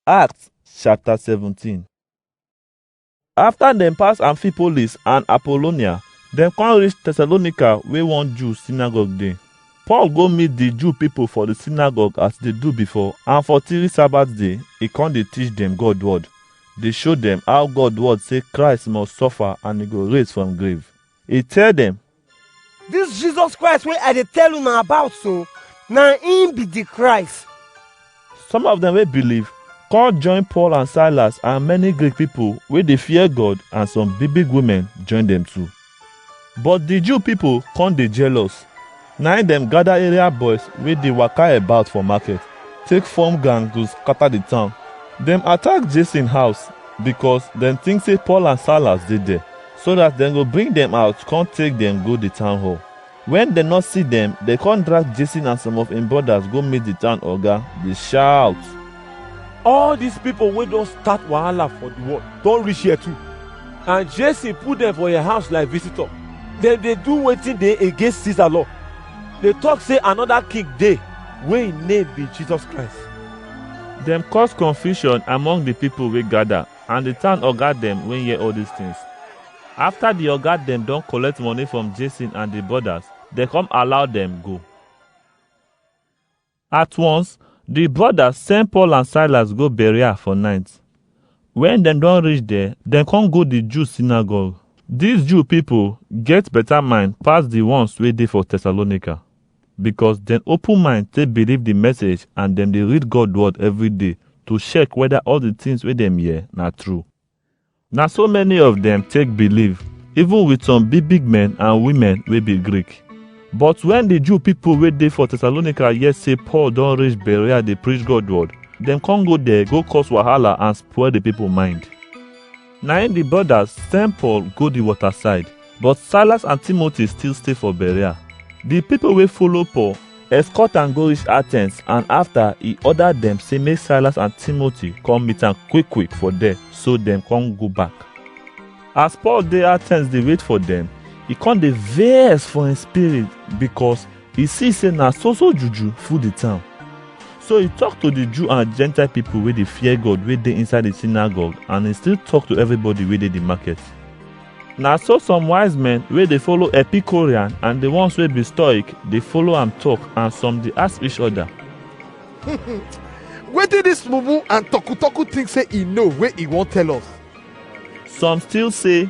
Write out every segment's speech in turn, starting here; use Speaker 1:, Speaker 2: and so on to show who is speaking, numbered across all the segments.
Speaker 1: Acts chapter 17 After dem pass Amphipolis and Apollonia, dem come reach Thessalonica where one Jew synagogue dey. Paul go meet the Jew people for the synagogue as they do before, and for three Sabbath day, he come dey teach them God word. They show them how God word say Christ must suffer and he go raise from grave. He tell them, This Jesus Christ wey I dey tell una about so, na him be the Christ. Some of them wey believe come join Paul and Silas and many Greek people wey dey fear God and some big big women join them too. But the Jew people come dey jealous. Na im dem gather area boys wey dey waka about for market, take form gang to scatter the town. Dem attack Jason house because dem think say Paul and Silas dey there. so dat dem go bring dem out con take dem go di town hall. Wen dem no see dem, dem con drag Jason and some of im brodas go meet di town oga, dey shout. All dis pipo wey don start wahala for di world don reach here too, and Jason put dem for im house like visitor. Dem dey do wetin dey against Caesar law, dey tok sey anoda king dey wey im name be Jesus Christ. Dem cause confusion among di pipo wey gada. And the town oga dem wey hear all these things. After the oga dem don collect money from Jason and the brothers, they come allow them go. At once, the brothers send Paul and Silas go Berea for night. When dem don reach there, dem come go the Jew synagogue. These Jew people get better mind pass the ones wey dey for Thessalonica. because dem open mind take believe the message and dem dey read God word every day to check whether all the things wey dem hear na true. Na so many of dem take believe, even with some big big men and women wey be Greek. But when the Jew people wey dey for Thessalonica hear say Paul don reach Berea dey preach God word, dem come go there go cause wahala and spoil the people mind. Na im di brodas send Paul go di water side, but Silas and Timothy still stay for Berea. Di pipo wey follow Paul escort am go reach Athens and afta e order dem say make Silas and Timothy come meet am quick quick for there so dem come go back. As Paul dey Athens dey wait for dem, e come dey vex for im spirit because He see say na so so juju full the town. So he talk to the Jew and Gentile people wey dey fear God wey dey inside the synagogue and he still talk to everybody wey dey the market. Na so some wise men wey dey follow Epicurean and the ones wey be Stoic dey follow am talk and some dey ask each other. Wetin dis mumu and toku-toku think say e know wey e wan tell us? Some still say,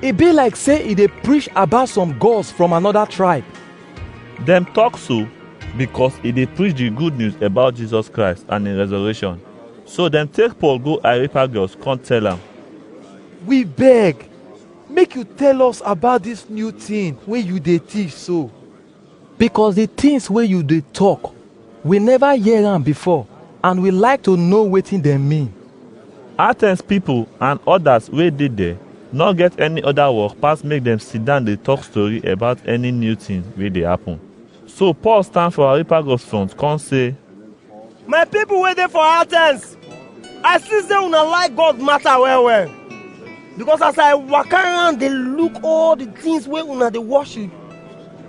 Speaker 1: E be like say e dey preach about some gods from another tribe. Dem talk so because e dey preach the good news about Jesus Christ and his resurrection. So dem take Paul go Areopagus come tell am, We beg, make you tell us about this new thing wey you dey teach so. Because the things wey you dey talk, we never hear am before and we like to know wetin dem mean. Athens people and others wey dey there no get any other work pass make dem sit down dey talk story about any new thing wey dey happen. So Paul stand for Areopagus front come say, my people wey dey for athens i see say una like god matter well well because as i waka around dey look all the things wey una dey worship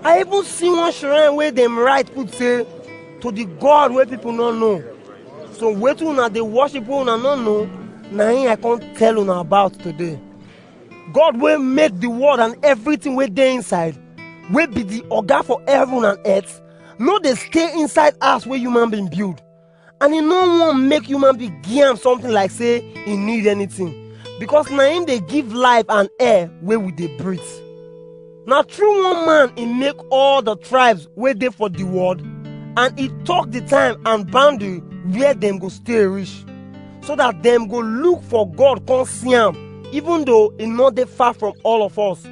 Speaker 1: i even see one shrine wey dem write put say to the god wey people no know so wetin una dey worship wey una no know na him i come tell una about today god wey make the world and everything wey dey inside wey be the oga for heaven and earth no dey stay inside house wey human being build and e no wan make human being give am something like say e need anything because na him dey give life and air wey we dey breathe na through one man e make all the tribes wey dey for the world and e talk the time and boundary where dem go stay reach so that dem go look for god come see am even though e no dey far from all of us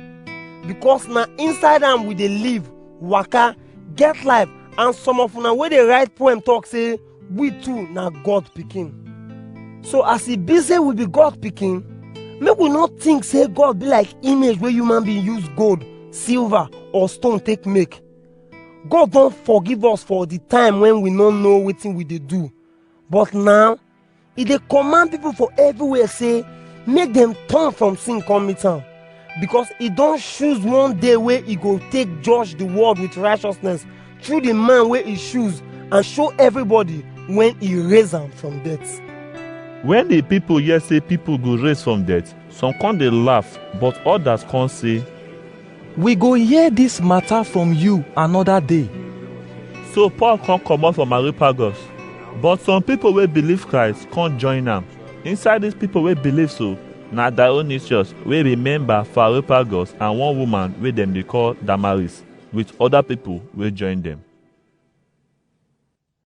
Speaker 1: because na inside am we dey live waka get life and some of una wey dey write poem talk say we too na god pikin so as e be say we be god pikin make we no think say god be like image wey human being use gold silver or stone take make god don forgive us for the time when we no know wetin we dey do but now e dey command people for everywhere say make dem turn from sin come meet am because e don choose one day wey e go take judge the world with righteousness through the man wey e choose and show everybody when e raise am from death. When the people hear say people go raise from death, some come dey laugh, but others come say, We go hear dis mata from you anoda day. So Paul come comot from Areopagus, but some pipo wey believe Christ come join am. Inside dis pipo wey believe so, na Dionysius wey be member for Areopagus and one woman wey dem dey call Damaris with oda pipo wey join dem.